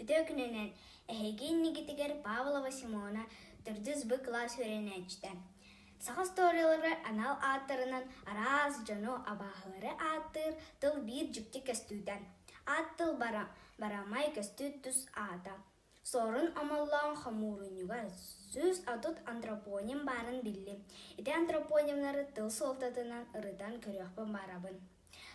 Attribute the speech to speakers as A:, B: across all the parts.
A: Үтүө күнүнэн эһиги иннигитигэр Павлова Симона төрдүс Б кылаас үөрэнээччитэ. Саха историяларыгар анал ааттарынан араас дьону абааһылары ааттыыр тыл биир дьикти көстүүтэ. Аат тыл бара, барамай көстүү тус аата. Суорун Омоллоон хомуурунньуга сүүс отут антропоним баарын биллим. Ити антропонимнары тыл суолтатынан ырытан көрүөхпүн баарабын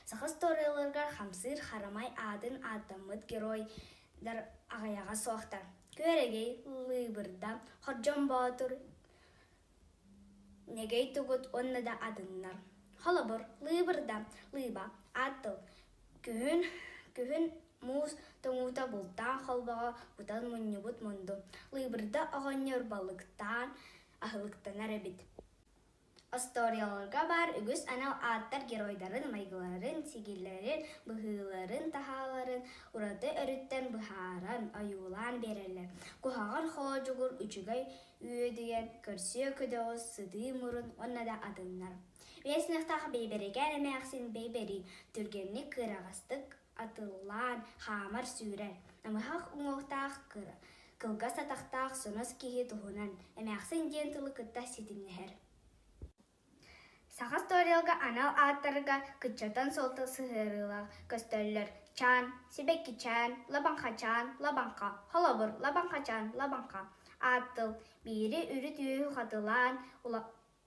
A: Саха устуоруйаларыгар хамсыыр харамай аатын ааттаммыт геройдар аҕыйаҕа суохтар. Күөрэгэй, Лыыбырда, Хордьон Боотур, Нэгэй Тугут уонна да атыннар. Холобур, Лыыбырда, Лыыба, Аат тыл, Күһүн, Күһүн муус тоҥуута бултаан холбоҕо кутан мунньубут мунду. Лыыбырда оҕонньор балыктаан аһылыктанар эбит Остуоруйаларга баар үгүс анал ааттар геройдарын майгыларын, сигилэрин, быһыыларын-таһааларын ураты өрүттэн быһааран, ойуулаан биэрэллэр. Куһаҕан хоодьугур үчүгэй үөдүйэн, көрсүө көдөҕүс, сытыы мурун уонна да атыннар. Вестневтаах Бэйбэрэкээн эмээхсин Бэйбэрии түргэнник кыараҕастык атыллаан, хаамар-сүүрэр, намыһах уҥуохтаах, кыра, кылгас атахтаах сонос киһи туһунан эмээхсин диэн тылы кытта ситимнэһэр. Саха историялга анал ааттарга кыччатан суолта сыһыарыылаах көстөллөр чаан, сибэккичээн, лабаҥхачаан, лабаҥха, холобур, лабаҥхачаан, лабаҥха. Аат тыл биири үрүт-үөһү хатылаан,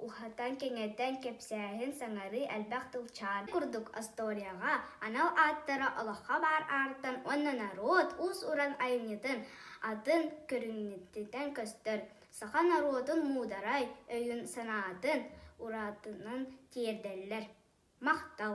A: Уһатан, кэҥэтэн кэпсээһин саҥарыы элбэх тылчаан курдук остуоруйаҕа анал ааттара олоххо баар аартан уонна норуот уус-уран айымньытын атын көрүҥнэтиттэн көстөр саха норуотун муударай өйүн-санаатын уратытынан тиэрдэллэр. Махтал!